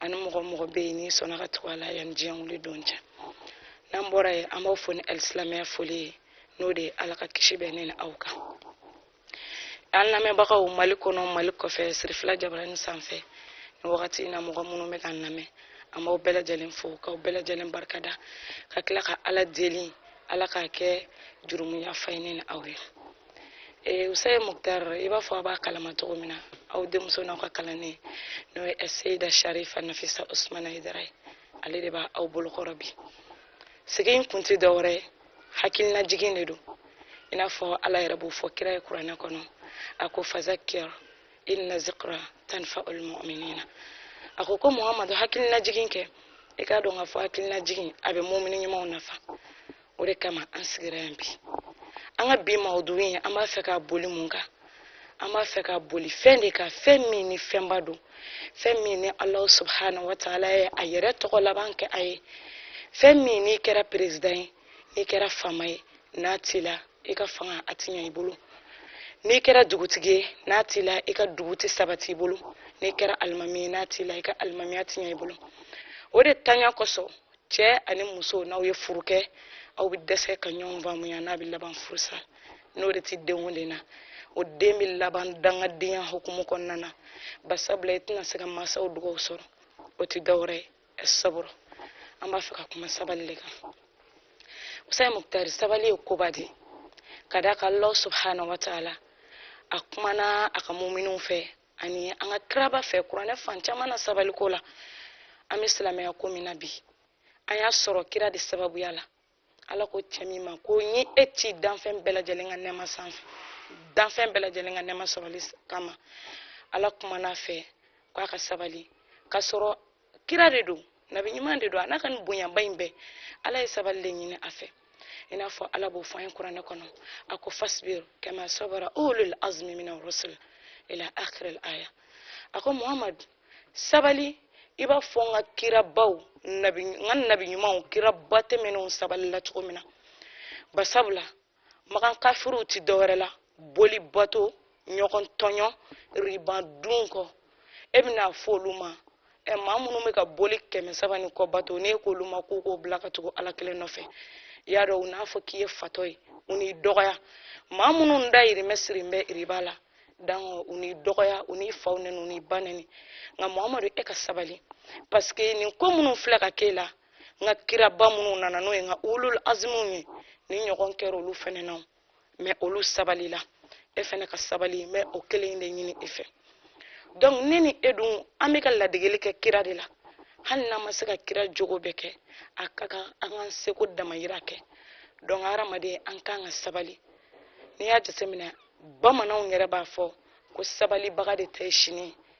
ani mɔgɔ o mɔgɔ bɛ yen n'i sɔnna ka tugu a la yan ni diɲɛ wuli don cɛ n'an bɔra yen an b'aw fo ni alisilamɛya foli ye n'o de ye ala ka kisi bɛ ne ni aw kan an lamɛnbagaw mali kɔnɔ mali kɔfɛ sirifila jabarani sanfɛ nin wagati in na mɔgɔ minnu bɛ k'an lamɛn an b'aw bɛɛ lajɛlen fo k'aw bɛɛ lajɛlen barika da ka tila ka ala deli ala k'a kɛ jurumuyafa ye ne ni aw ye eh, usaye muktar i b'a fɔ aw b'a kalama cogo min na aw denmuso n'aw ka kalanden n'o ye aseyida sharifa nafisa usmana hayidara ye ale de b'aw bolo kɔrɔ bi sigi in kun tɛ dɔwɛrɛ ye hakilina jigin de don i n'a fɔ ala yɛrɛ b'o fɔ kira ye kuranɛ kɔnɔ a ko fazakir inna zikra tanfaul muminina a ko ko muhamadu hakilina jigin kɛ i k'a dɔn k'a fɔ hakilina jigin a bɛ mumini ɲumanw nafa o de kama an sigira yan bi an ka bi mawudugu in an b'a fɛ ka boli mun kan an b'a fɛ ka boli fɛn de kan fɛn min ni fɛnba don fɛn min ni alahu subhanahu wa taala ye a yɛrɛ tɔgɔ laban kɛ a ye fɛn min n'i kɛra perezidan ye n'i kɛra faama ye n'a t'i la i ka fanga a ti ɲɛ i bolo n'i kɛra dugutigi ye n'a t'i la i ka dugu tɛ sabati i bolo n'i kɛra alimami ye n'a t'i la i ka alimamiya ti ɲɛ i bolo o de tanya kosɔn cɛ ani muso n'aw ye furu kɛ aw bɛ dɛsɛ ka ɲɔgɔn faamuya n'a bɛ laban furusa n'o de tɛ den o den na o den bɛ laban dangadenya hukumu kɔnɔna na basabula i tɛna se ka mansaw dugawu sɔrɔ o tɛ dɔwɛrɛ ye saburu an b'a fɛ ka kuma sabali de kan usayi mukutari sabali ye koba de ka d'a kan allah subhanahu wa taala a kumana a ka muminiw fɛ ani an ka kiraba fɛ kuranɛ fan caman na sabaliko la an bɛ silamɛya ko min na bi an y'a sɔrɔ kira de sababuya la ala ko cɛ min ma ko n y'e ci danfɛn bɛɛ lajɛlen ka nɛɛma sanfɛ danfɛn bɛɛ lajɛlen ka nɛɛma sɔrɔli kama ala kumana a fɛ k'a ka sabali k'a sɔrɔ kira de don nabi ɲuman de don a n'a ka nin bonyaba in bɛɛ ala ye sabali de ɲini a fɛ i n'a fɔ ala b'o fɔ an ye kuranɛ kɔnɔ a ko fasbir kama sabara ulul azmi mina rusul ila akhir al aya a ko muhammad sabali i b'a fɔ n ka kirabaw nabi n ka nabi ɲumanw kiraba tɛmɛnenw sabalila cogo min na basabula makan kafiriw ti dɔwɛrɛ la boli bato ɲɔgɔn tɔɲɔ riba dun kɔ e bɛna fɔ olu ma ɛ maa minnu bɛ ka boli kɛmɛ saba ni kɔ bato n'e k'olu ma k'u k'o bila ka tugu ala kelen nɔfɛ i y'a dɔn u n'a fɔ k'i ye fatɔ ye u n'i dɔgɔya maa minnu dayirimɛ sirin bɛ riba la dangɔ u n'i dɔgɔya u n'i fa nɛni u n'i ba nɛni nka muhamadu e ka sabali pasike nin ko minnu filɛ ka k'e la n ka kiraba minnu nana n'o ye n ka ulul azimuw ye nin ɲɔgɔn kɛra olu fɛnɛ na mais olu sabalila e fɛnɛ ka sabali n bɛ o kelen de ɲini e fɛ donc ne ni e dun an bɛ ka ladegeli kɛ kira de la hali n'an ma se ka kira jogo bɛɛ kɛ a ka kan an k'an seko damayira kɛ donc hadamaden an kan ka sabali n'i y'a jateminɛ bamananw yɛrɛ b'a fɔ ko sabalibaga de tɛ sini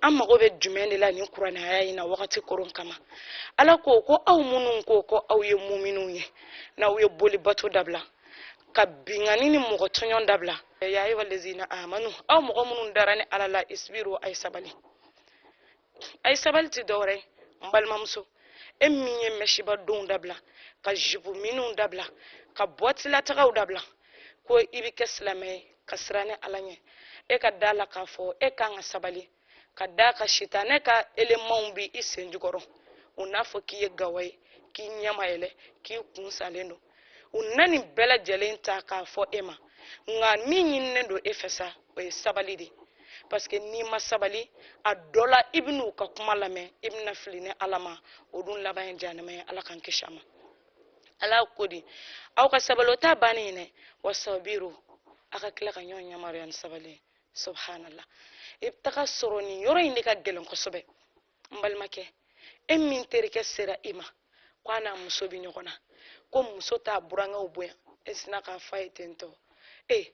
an mago bɛ jumɛn de la nin kuranɛya in na wagati koron kama ala ko ko aw minnu ko ko aw ye muminw ye n'aw ye boli bato dabila ka binkanni ni mɔgɔ tɔɲɔn dabila ya ayyuha allazina amanu aw mɔgɔ minnu dara ne ala la isbiru a ye sabali a ye sabali ti dɔwɛrɛ ye n balimamuso e min ye mɛsiba donw dabila ka jipu miniw dabila ka boîte la taagaw dabila ko i bɛ kɛ silamɛ ye ka siran ne ala ɲɛ e ka d'a la k'a fɔ e kan ka sabali ka d'a kan sitanɛ ka elemanw bi i sen jukɔrɔ u n'a fɔ k'i ye gawa ye k'i ɲɛ ma yɛlɛ k'i kun salen don u na nin bɛɛ lajɛlen ta k'a fɔ e ma nka min ɲininen don e fɛ sa o ye sabali de parce que n'i ma sabali a dɔ la i bɛna u ka kuma lamɛn i bɛna fili ne ala ma o dun laban ye janɛma ye ala k'an kisi a ma ala ko di aw ka sabali o t'a bannen ye dɛ wasabiru a ka tila ka ɲɔgɔn yamaruya ni sabali ye subhanallah i bɛ taga sɔrɔ nin yɔrɔ in de ka gɛlɛn kosɛbɛ n balimakɛ e min terikɛ sera i ma ko a n'a muso bɛ ɲɔgɔn na ko muso t'a burankɛw bonya e sinna k'a fɔ a ye ten tɔ ee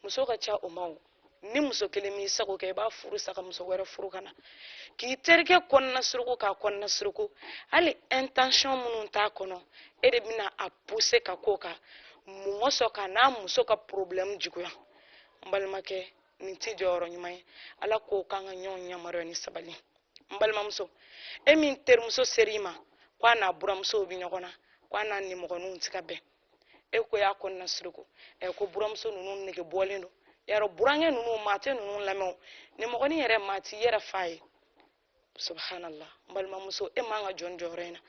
muso ka ca o ma o ni muso kelen m'i sago kɛ i b'a furu sa ka muso wɛrɛ furu ka na k'i terikɛ kɔnɔna suruku k'a kɔnɔna suruku hali intention minnu t'a kɔnɔ e de bɛna a pousser ka k'o kan mɔgɔ sɔn k'a n'a muso ka problème juguya n balimakɛ nin t'i jɔyɔrɔ ɲuman ye ala ko k'an ka ɲɔgɔn yamaruya ni sabali n balimamuso e min terimuso ser'i ma ko a n'a buramusow bɛ ɲɔgɔn na ko a n'a nimɔgɔninw tɛ ka bɛn e ko y'a kɔnɔna suruku ɛ ko buramuso ninnu nege bɔlen don yɛrɛ burankɛ ninnu maa tɛ ninnu lamɛn nimɔgɔnin yɛrɛ maa t'i yɛrɛ fa ye subhanallah n balimamuso e man ka jɔ nin jɔyɔrɔ in na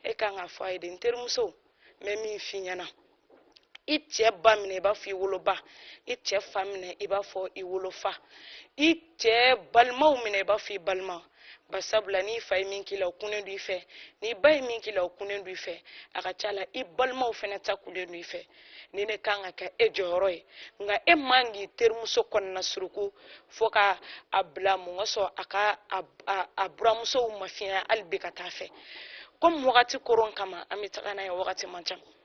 e kan k'a fɔ a ye de n terimuso n bɛ min f'i ɲɛna i cɛ ba minɛ i b'a fɔ i woloba i cɛ fa minɛ i b'a fɔ i wolofa i cɛ balimaw minɛ i b'a fɔ i balima ba sabu la n'i fa ye min k'i la o kunnen don i fɛ n'i ba ye min k'i la o kunnen don i fɛ a ka ca la i balimaw fana ta kunnen don i fɛ nin de kan ka kɛ e jɔyɔrɔ ye nka e man k'i terimuso kɔnɔna suruku fo ka a bila mun ka sɔrɔ a ka a buramusow mafiɲɛ hali bi ka taa a fɛ komi wagati koron kama an bɛ taga n'a ye wagati man ca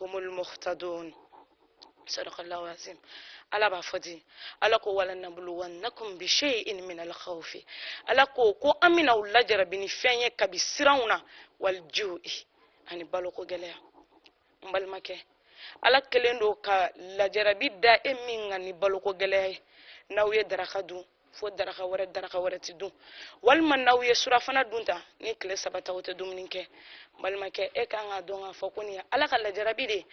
humul muhtadun sadaqallahu azim ala b'a fɔ di ala ko wa lanabluwannakum bi shay'in min al khawfi ala ko ko an bɛna aw lajarabi ni fɛn ye kabi siranw na wal ju'i ani baloko gɛlɛya n balimakɛ ala kɛlen don ka lajarabi da e min kan ni baloko gɛlɛya ye n'aw ye daraka dun fo daraka wɛrɛ daraka wɛrɛ ti dun walima n'aw ye surafana dun ta ni tile saba ta aw tɛ dumuni kɛ balimakɛ e kan k'a dɔn k'a fɔ ko nin ye ala ka lajarabi de ye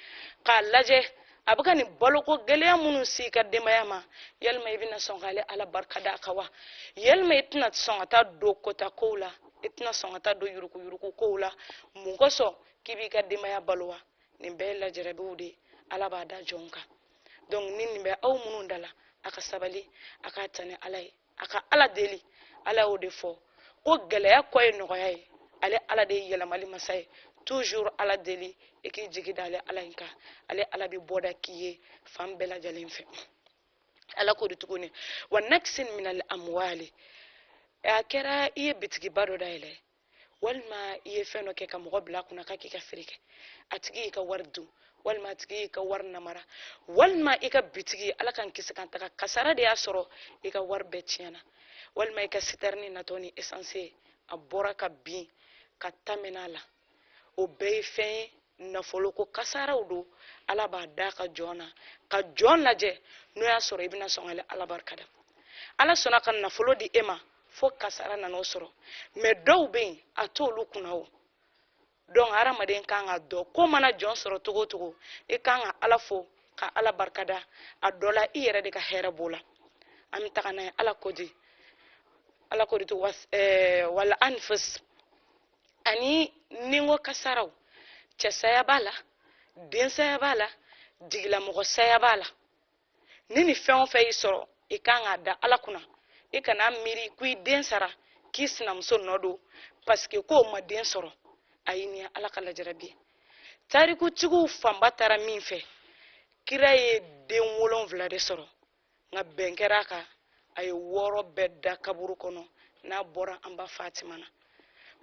k'a lajɛ a bɛ ka nin baloko gɛlɛya minnu se i ka denbaya ma yalima i bɛna sɔn k'ale ala barika da a kan wa yalima i tɛna sɔn ka taa don kota kow la i tɛna sɔn ka taa don yurukuyuruku kow la mun kosɔn k'i b'i ka denbaya balo wa nin bɛɛ ye lajarabiw de ye ala b'a da jɔn kan donc ni nin bɛ aw minnu da la a ka sabali a k'a ta ni ala ye a ka ala deli ala y'o de fɔ ko gɛlɛya kɔ ye nɔgɔya ye ale ala de ye yɛlɛmali masa ye toujours ala deli i k'i jigi da ale ala in kan ale ala bɛ bɔda k'i ye fan bɛɛ lajɛlen fɛ ala ko di tuguni wa naqsin min al amwali a kɛra i ye bitigiba dɔ dayɛlɛ walima i ye fɛn dɔ kɛ ka mɔgɔ bila a kunna k'a k'i ka feere kɛ a tigi y'i ka wari dun walima a tigi y'i ka wari namara walima i ka bitigi ala k'an kisi k'an tanga kasara de y'a sɔrɔ i ka wari bɛɛ tiɲɛna walima i ka sitɛrini natɔ ni esanse a bɔra ka bin ka ta mɛn'a la o bɛɛ ye fɛn ye nafoloko kasaraw don ala b'a da a ka jɔn na ka jɔn lajɛ n'o y'a sɔrɔ i bɛna sɔn ka ala barikada ala sɔnna ka nafolo di e ma fo kasara nan'o sɔrɔ mais dɔw bɛ yen a t'olu kunna o donc hadamaden kan k'a dɔn ko mana jɔn sɔrɔ cogo o cogo i kan ka ala fo ka ala barikada a dɔ la i yɛrɛ de ka hɛrɛ b'o la an bɛ taga n'a ye ala ko di ala ko di to eh, wal anfus ani ninko kasaraw cɛsaya b'a la densaya b'a la jigilamɔgɔsaya b'a la ni nin fɛn o fɛn y'i sɔrɔ i kan k'a da ala kunna i kana miiri ko i den sara k'i sinamuso nɔ don pasike k'o ma den sɔrɔ ayi nin ye ala ka lajarabi ye tarikutigiw fanba taara min fɛ kira ye den wolonwula de sɔrɔ nka bɛn kɛra a kan a ye wɔɔrɔ bɛɛ da kaburu kɔnɔ n'a bɔra an ba fatima na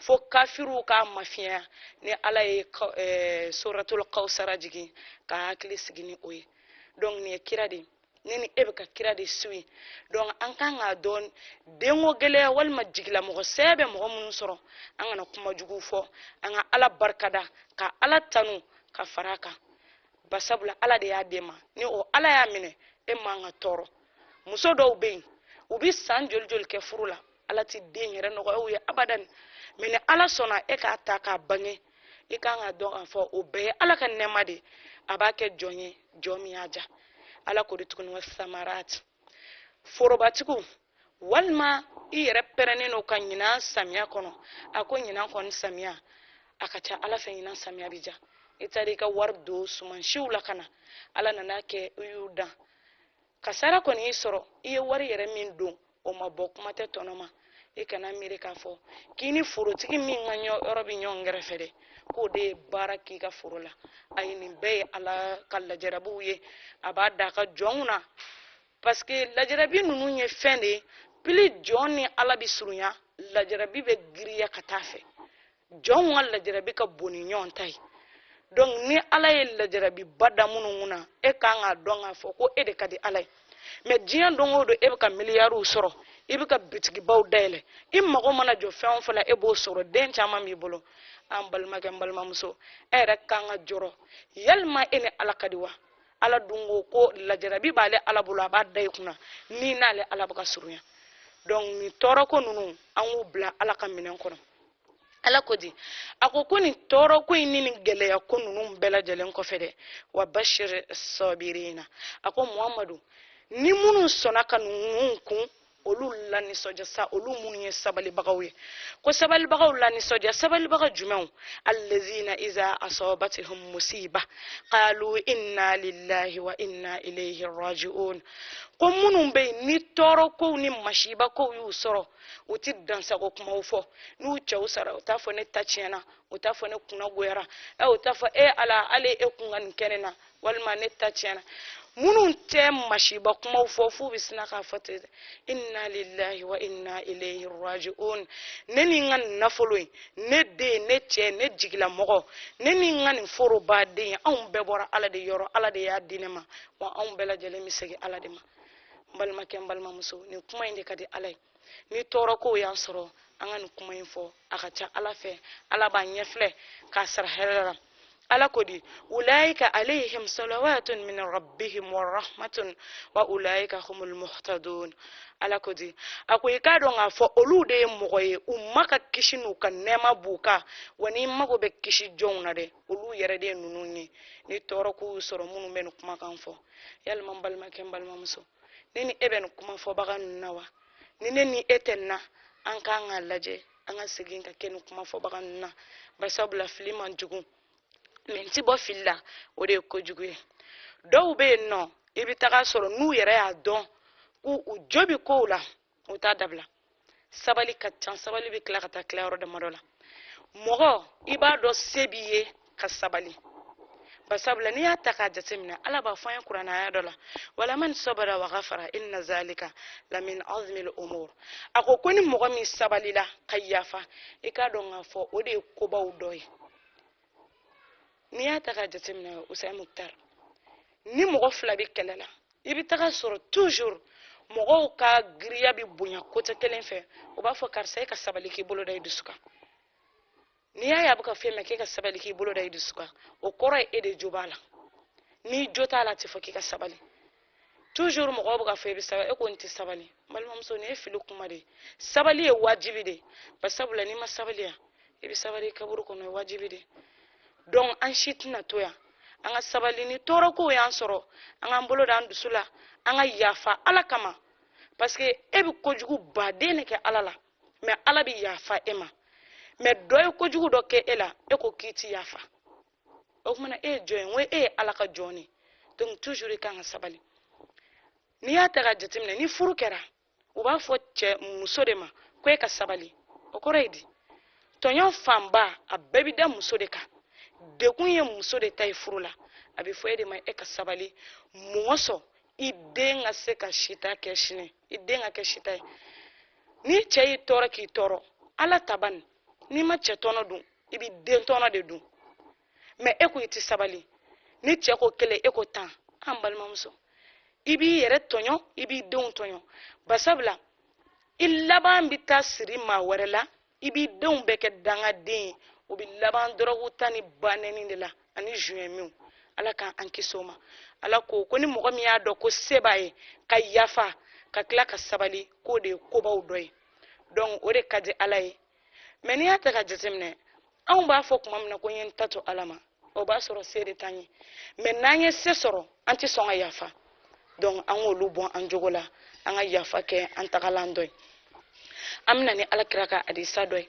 fo kafiriw k'a mafiɲɛya ni ala ye eh, soratul kawsara jigin k'a hakili sigi ni o ye donc nin ye kira de ne ni e bɛ ka kira de suwi donc an kan k'a dɔn denko gɛlɛya walima jigilamɔgɔ saya bɛ mɔgɔ minnu sɔrɔ an kana kuma jugu fɔ an ka ala barikada ka ala tanu ka fara a kan basabula ala de y'a d'e ma ni o ala y'a minɛ e man ka tɔɔrɔ muso dɔw bɛ yen u bɛ san joli joli kɛ furu la ala ti den yɛrɛ nɔgɔya u ye abadan mɛ ni ala sɔnna e k'a ta k'a bange i kan k'a dɔn k'a fɔ o bɛɛ ye ala ka nɛɛma de a b'a kɛ jɔn ye jɔn min y'a diya ala ko de tuguni wa samarat forobatigiw walima i yɛrɛ pɛrɛnnen don ka ɲinan samiya kɔnɔ a ko ɲinan kɔni samiya a ka ca ala fɛ ɲinan samiya bi diya i taara i ka wari don sumansiw la ka na ala nana kɛ i y'u dan kasara kɔni y'i sɔrɔ i ye wari yɛrɛ min don o ma bɔ kuma tɛ tɔnɔ ma i kana miiri k'a fɔ k'i ni forotigi min ka yɔrɔ bɛ ɲɔgɔn kɛrɛfɛ dɛ k'o de ye baara k'i ka foro la ayi nin bɛɛ ye ala ka lajarabiw ye a b'a da a ka jɔnw na paseke lajarabi ninnu ye fɛn de ye pili jɔn ni ala bɛ surunya lajarabi bɛ giriya ka taa fɛ jɔnw ka lajarabi ka bon ni ɲɔgɔn ta ye donc ni ala ye lajarabiba da minnu kun na e kan k'a dɔn k'a fɔ ko e de ka di ala ye mɛ diɲɛ don o don e bɛ ka miliyariw sɔrɔ i bɛ ka bitigibaw dayɛlɛ i mago mana jɔ fɛn o fɛn la e b'o sɔrɔ den caman b'i bolo n balimakɛ n balimamuso e yɛrɛ kan ka jɔrɔ yalima e ni ala ka di wa ala dun ko ko lajarabi b'ale ala bolo a b'a da i kunna n'i n'ale ala bɛ ka surunya donc nin tɔɔrɔ ko ninnu an k'u bila ala ka minɛn kɔnɔ ala ko di a ko ko nin tɔɔrɔ ko in ni nin gɛlɛya ko ninnu bɛɛ lajɛlen kɔfɛ dɛ wa bashiris sabirina a ko muhamadu ni minnu sɔnna ka ninnu kun olu lanisɔndiya sa olu minnu ye sabalibagaw ye ko sabalibagaw lanisɔndiya sabalibaga jumɛnw allazina iza asabathum musiba qalu inna lillahi wa inna ilayhi raji'un ko minnu bɛ yen ni tɔɔrɔ kow ni masiba kow y'u sɔrɔ u ti dansago kumaw fɔ n'u cɛw sara u t'a fɔ ne ta tiɲɛna u t'a fɔ ne kunna goyara ɛ u t'a fɔ e ala ale e kun ka nin kɛ ne na walima ne ta tiɲɛna minnu tɛ masiba kumaw fɔ f'u bɛ sina k'a fɔ ten inna lillahi wa inna ilayhi raji'un ne ni n ka nin nafolo in ne den ne cɛ ne jigilamɔgɔ ne ni n ka nin foroba in anw bɛɛ bɔra ala de yɔrɔ ala de y'a di ne ma wa anw bɛɛ lajɛlen bɛ segin ala de ma n balimakɛ n balimamuso nin kuma in de ka di ala ye ni tɔɔrɔ kow y'an sɔrɔ an ka nin kuma in fɔ a ka ca ala fɛ ala b'a ɲɛfilɛ k'a sara hɛrɛ la ala ko di ulaika alayhim salawatun min rabbihim wa rahmatun wa ulaika humul muhtadun ala ko di a ko i k'a dɔn k'a fɔ olu de ye mɔgɔ ye u ma ka kisi n'u ka nɛɛma b'u kan wa n'i mago bɛ kisi jɔnw na dɛ olu yɛrɛ de ninnu ye ni tɔɔrɔ k'u sɔrɔ minnu bɛ nin kumakan fɔ yalima n balimakɛ n balimamuso ne ni e bɛ nin kuma fɔbaga ninnu na wa ni ne ni e tɛ nin na an kan k'a lajɛ an ka segin ka kɛ nin kuma fɔbaga ninnu na bari sabula fili man jugu mɛ n ti bɔ fili la o de ye kojugu ye dɔw bɛ yen nɔ i bɛ taga sɔrɔ n'u yɛrɛ y'a dɔn k'u u jo bɛ kow la o t'a dabila sabali ka ca sabali bɛ tila ka taa tila yɔrɔ damadɔ la mɔgɔ i b'a dɔn se b'i ye ka sabali basabula n'i y'a ta k'a jateminɛ ala b'a fɔ an ye kuranɛ aya dɔ la walaman sabara wa gafara inna zalika lamin azmil umur a ko ko ni mɔgɔ min sabalila ka yafa i k'a dɔn k'a fɔ o de ye kobaw dɔ ye n'i y'a ta k'a jateminɛ usain muktar ni mɔgɔ fila bɛ kɛlɛ la i bɛ taga a sɔrɔ toujours mɔgɔw ka giriya bɛ bonya côté kelen fɛ u b'a fɔ karisa e ka sabali k'i bolo da i dusu kan n'i y'a ye a bɛ ka fɔ e ma k'e ka sabali k'i bolo da i dusu kan o kɔrɔ ye e de jo b'a la n'i jo t'a la a tɛ fɔ k'i ka sabali toujours mɔgɔw bɛ k'a fɔ e bɛ sabali e ko n tɛ sabali n balimamuso nin ye fili kuma de ye sabali ye wajibi de ye basabula n'i ma sabali yan i bɛ sabali i kaburu kɔnɔ o ye wajibi de ye donc an si tɛna to yan an ka sabali ni tɔɔrɔ kow y'an sɔrɔ an k'an bolo d'an dusu la an ka yafa ala kama parce que e bɛ kojugu baden de kɛ ala la mais ala bɛ yafa e ma mais dɔ ye kojugu dɔ kɛ e la e ko k'i ti yafa o kuma na e ye jɔn ye n ko e ye ala ka jɔn de donc toujours i kan ka sabali n'i y'a ta k'a jateminɛ ni furu kɛra u b'a fɔ cɛ muso de ma ko e ka sabali o kɔrɔ ye di tɔɲɔ fanba a bɛɛ bi da muso de kan degun ye muso de ta ye furu la a bɛ fɔ e de ma e ka sabali mɔgɔ sɔn i den ka se ka sita kɛ sini i den ka kɛ sita ye ni cɛ y'i tɔɔrɔ k'i tɔɔrɔ ala tabani n'i ma cɛ tɔnɔ dun i bɛ den tɔnɔ de dun mais e ko i tɛ sabali ni cɛ ko kelen e ko tan an balimamuso i b'i yɛrɛ tɔɲɔ i b'i denw tɔɲɔ basabula i laban bɛ taa siri maa wɛrɛ la i b'i denw bɛɛ kɛ dangaden ye u bɛ laban dɔrɔgu ta ni banɛni de la ani zuɲɛminw ala k'an kisi o ma ala ko ko ni mɔgɔ min y'a dɔn ko se b'a ye ka yafa ka tila ka sabali k'o de ye kobaw dɔ ye donc o de ka di ala ye mais n'i y'a ta k'a jateminɛ anw b'a fɔ kuma min na ko n ye n ta to ala ma o b'a sɔrɔ se de t'an ye mais n'an ye se sɔrɔ an tɛ sɔn ka yafa donc an k'olu bɔ an jogo la an ka yafa kɛ an tagalan dɔ ye an bɛ na ni ala kira ka hadisa dɔ ye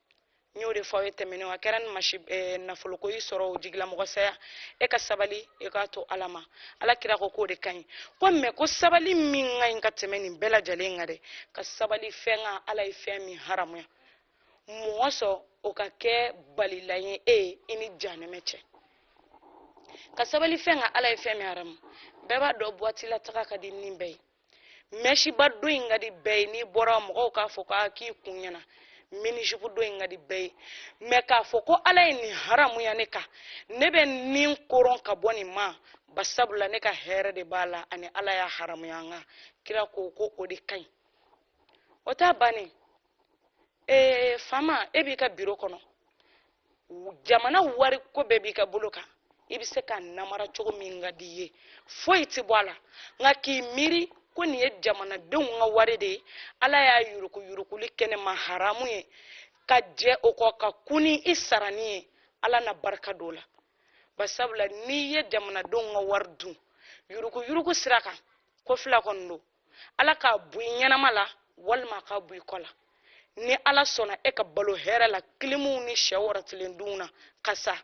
n y'o de fɔ aw ye tɛmɛnenw a kɛra ni masi eh, nafoloko y'i sɔrɔ o jigilamɔgɔ saya e ka sabali e k'a to ala ma ala kira ko k'o de ka ɲi ko mais ko sabali min ka ɲi ka tɛmɛ nin bɛɛ lajɛlen kan dɛ ka sabali fɛn kan ala ye fɛn min haramuya mɔgɔ sɔn o ka kɛ balilan ye e ye i ni janɛmɛ cɛ ka sabali fɛn kan ala ye fɛn min haramu bɛɛ b'a dɔn boîte la taga ka di ni bɛɛ ye mɛsiba don in ka di bɛɛ ye n'i bɔra mɔgɔw k'a fɔ ko k'i kun ɲɛna mini-jupe don in ka di bɛɛ ye mais k'a fɔ ko ala ye nin haramuya ne kan ne bɛ n nin koron ka bɔ nin ma basabula ne ka hɛrɛ de b'a la ani ala y'a haramuya an kan kira ko ko o de ka ɲi o ta bannen ee faama e b'i ka biro kɔnɔ jamana wari ko bɛɛ b'i ka bolo kan i bɛ se ka namara cogo min ka di i ye foyi tɛ bɔ a la nka k'i miiri ko nin ye jamanadenw ka wari de ye ala y'a yuruku yurukuli kɛ ne ma haramu ye ka jɛ o kɔ ka kun ni i sarani ye ala na barika don a la basabula n'i ye jamanadenw ka wari dun yuruku yuruku sira kan ko fila kɔni don ala k'a bɔ i ɲɛnama la walima a k'a bɔ i kɔ la ni ala sɔnna e ka balo hɛrɛ la kilimuw ni sɛ wɔrɔtilen dunw na ka sa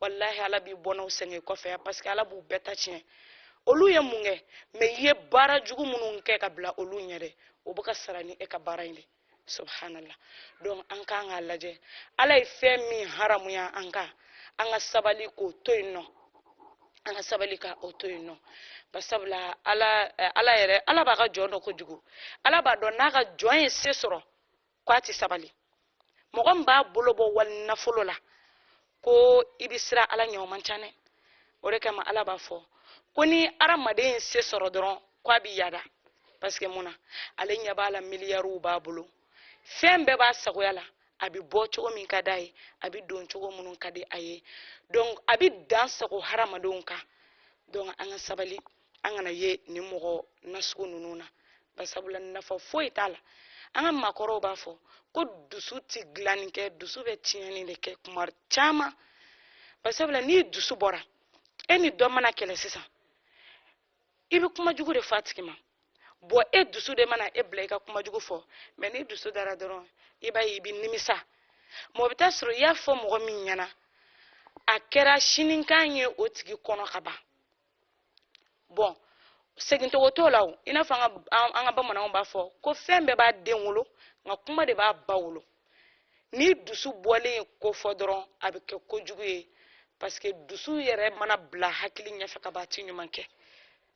walahi ala b'i bɔnnaw sɛgɛn i kɔfɛ yan parce que ala b'u bɛɛ ta tiɲɛ olu ye mun kɛ mais i ye baara jugu minnu kɛ ka bila olu ɲɛ dɛ o bɛ ka sara ni e ka baara in de subhanallah donc an k'an k'a lajɛ ala ye fɛn min haramuya an kan an ka sabali k'o to yen nɔ an ka sabali ka o to yen nɔ basabula ala eh, ala yɛrɛ ala b'a ka jɔn dɔn kojugu ala b'a dɔn n'a ka jɔn ye se sɔrɔ k'a ti sabali mɔgɔ min b'a bolo bɔ wali nafolo la ko i bɛ siran ala ɲɛ o man ca dɛ o de kama ala b'a fɔ ko ni adamaden ye se sɔrɔ dɔrɔn ko a bɛ yada parce que mun na ale ɲɛ b'a la miliyariw b'a bolo fɛn bɛɛ b'a sagoya la a bɛ bɔ cogo min ka d'a ye a bɛ don cogo minnu ka di a ye donc a bɛ dansagon hadamadenw kan donc an ka sabali an kana ye nin mɔgɔ nasugu ninnu na basabula nafa foyi t'a la an ka maakɔrɔw b'a fɔ ko dusu ti dilanni kɛ dusu bɛ tiɲɛni de kɛ kuma caman basabula n'i dusu bɔra e ni dɔ mana kɛlɛ sisan i bɛ kuma jugu de fɔ a tigi ma bon e dusu de mana e bila i ka kuma jugu fɔ mais n'i dusu dara dɔrɔn i b'a ye i bɛ nimisa mɔgɔ bɛ taa sɔrɔ i y'a fɔ mɔgɔ min ɲɛna a kɛra sinikan ye o tigi kɔnɔ ka ban bon segintogo t'o la o i n'a fɔ an ka bamananw b'a fɔ ko fɛn bɛɛ b'a den wolo nka kuma de b'a ba wolo n'i dusu bɔlen ye ko fɔ dɔrɔn a bɛ kɛ kojugu ye parce que dusu yɛrɛ mana bila hakili ɲɛfɛ ka ban a tɛ ɲuman kɛ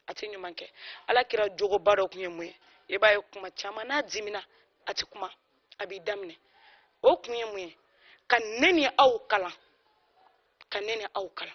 a tɛ ɲuman kɛ ala kira jogoba dɔ tun ye mun ye i b'a ye kuma caman n'a dimina a tɛ kuma a b'i da minɛ o kun ye mun ye ka ne ni aw kalan ka ne ni aw kalan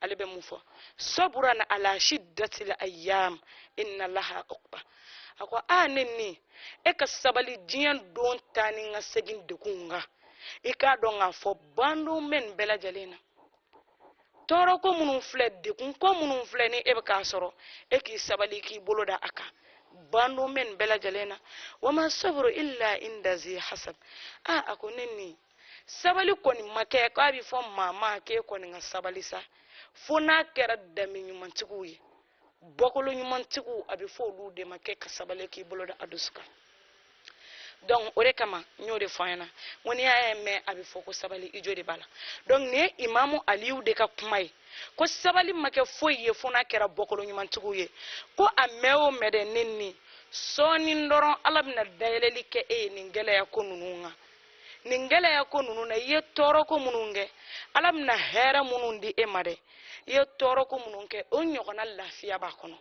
ale bɛ mun fɔ sabran ala shiddatil ayyam inna laha uqba a ko a ne ni e ka sabali diɲɛ don taa ni n ka segin degun kan i k'a dɔn k'a fɔ bandon bɛ nin bɛɛ lajɛlen na tɔɔrɔ ko minnu filɛ degun ko minnu filɛ ni e bɛ k'a sɔrɔ e k'i sabali k'i bolo da a kan bandon bɛ nin bɛɛ lajɛlen na wa ma sabru illa inda zi hasab a a ko ne ni sabali kɔni ma kɛ k'a bɛ fɔ maa ma k'e kɔni ka sabali sa fo n'a kɛra danbe ɲumantigiw ye bɔkolo ɲumantigiw a bɛ fɔ olu de ma k'e ka sabali k'i bolo da a dusu kan donc o de kama n y'o de fɔ an ɲɛna n ko n'i y'a ye mɛn a bɛ fɔ ko sabali i jo de b'a la donc nin ye imamu aliyu de ka kuma ye ko sabali ma kɛ foyi ye fo n'a kɛra bɔkolo ɲumantigiw ye ko a mɛn o mɛn dɛ ne ni sɔɔni dɔrɔn ala bɛna dayɛlɛli kɛ e ye nin gɛlɛya ko ninnu kan nin gɛlɛya ko ninnu na i ye tɔɔrɔ ko minnu kɛ ala bɛna hɛrɛ minnu di e ma dɛ i ye tɔɔrɔ ko minnu kɛ o ɲɔgɔnna lafiya b'a kɔnɔ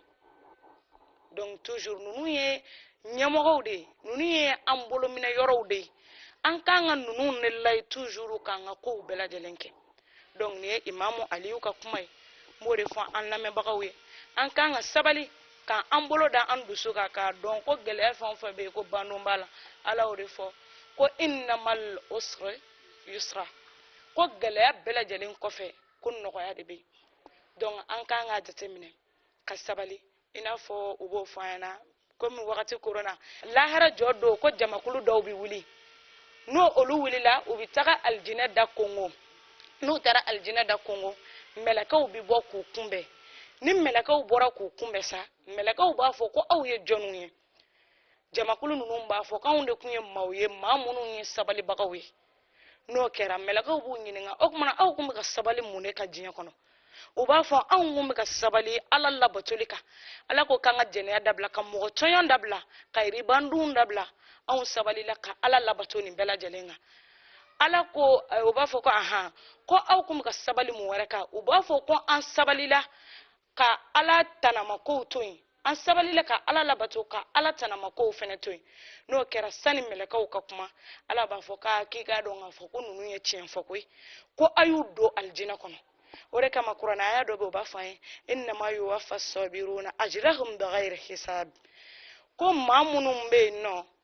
donc toujours ninnu ye ɲɛmɔgɔw de ye ninnu ye an bolominɛ yɔrɔw de ye an kan ka ninnu de lajɛ toujours k'an ka kow bɛɛ lajɛlen kɛ donc nin ye imamu aliyu ka kuma ye n b'o de fɔ an lamɛnbagaw ye an kan ka sabali k'an an bolo da an dusu kan k'a dɔn ko gɛlɛya fɛn o fɛn bɛ yen ko bandon b'a la ala y'o de fɔ ko inna maal usri yusra ko gɛlɛya bɛɛ lajɛlen kɔfɛ ko nɔgɔya de bɛ yen donc an kan k'a jateminɛ ka sabali i n'a fɔ u b'o fɔ an ɲɛna komi wagati koronna lahara jɔ don ko jamakulu dɔw bɛ wuli ni olu wulila u bɛ taga alijinɛ da konkon n'u taara alijinɛ da konkon mɛlɛkɛw bɛ bɔ k'u kunbɛn ni mɛlɛkɛw bɔra k'u kunbɛn sa mɛlɛkɛw b'a fɔ ko aw ye jɔniw ye jamakulu ninnu b'a fɔ k'anw de tun ye maaw ye maa minnu ye sabalibagaw ye n'o kɛra mɛlɛkaw b'u ɲininka o tumana aw tun bɛ ka sabali mun de kan diɲɛ kɔnɔ u b'a fɔ anw tun bɛ ka sabali ala labatoli kan ala ko k'an ka jɛnɛya dabila ka mɔgɔ tɔɲɔn dabila ka riba dun dabila anw sabalila ka ala labato nin bɛɛ lajɛlen kan ala ko eh, u b'a fɔ ko ahan ko aw tun bɛ ka sabali mun wɛrɛ kan u b'a fɔ ko an sabalila ka ala tanamakow to yen an sabalila ka ala labato ka ala tanamakow fɛnɛ to yen n'o kɛra sani mɛlɛkaw ka kuma ala b'a fɔ k'a k'i k'a dɔn k'a fɔ ko ninnu ye tiɲɛ fɔ koyi ko a y'u don alijinɛ kɔnɔ o de kama kuranɛ aya dɔ bɛ o b'a fɔ an ye innama yuwafa sabiruna ajrahum bigayri hisab ko maa minnu bɛ yen nɔ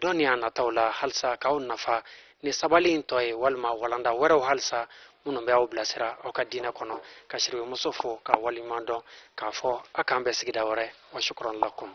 dɔnniya nataw la halisa k'aw nafa ni sabali in tɔ ye walima walanda wɛrɛw halisa minnu bɛ aw bilasira aw ka diinɛ kɔnɔ ka sidibe muso fo k'a waleɲumandɔn k'a fɔ a k'an bɛn sigida wɛrɛ wa shukran lakum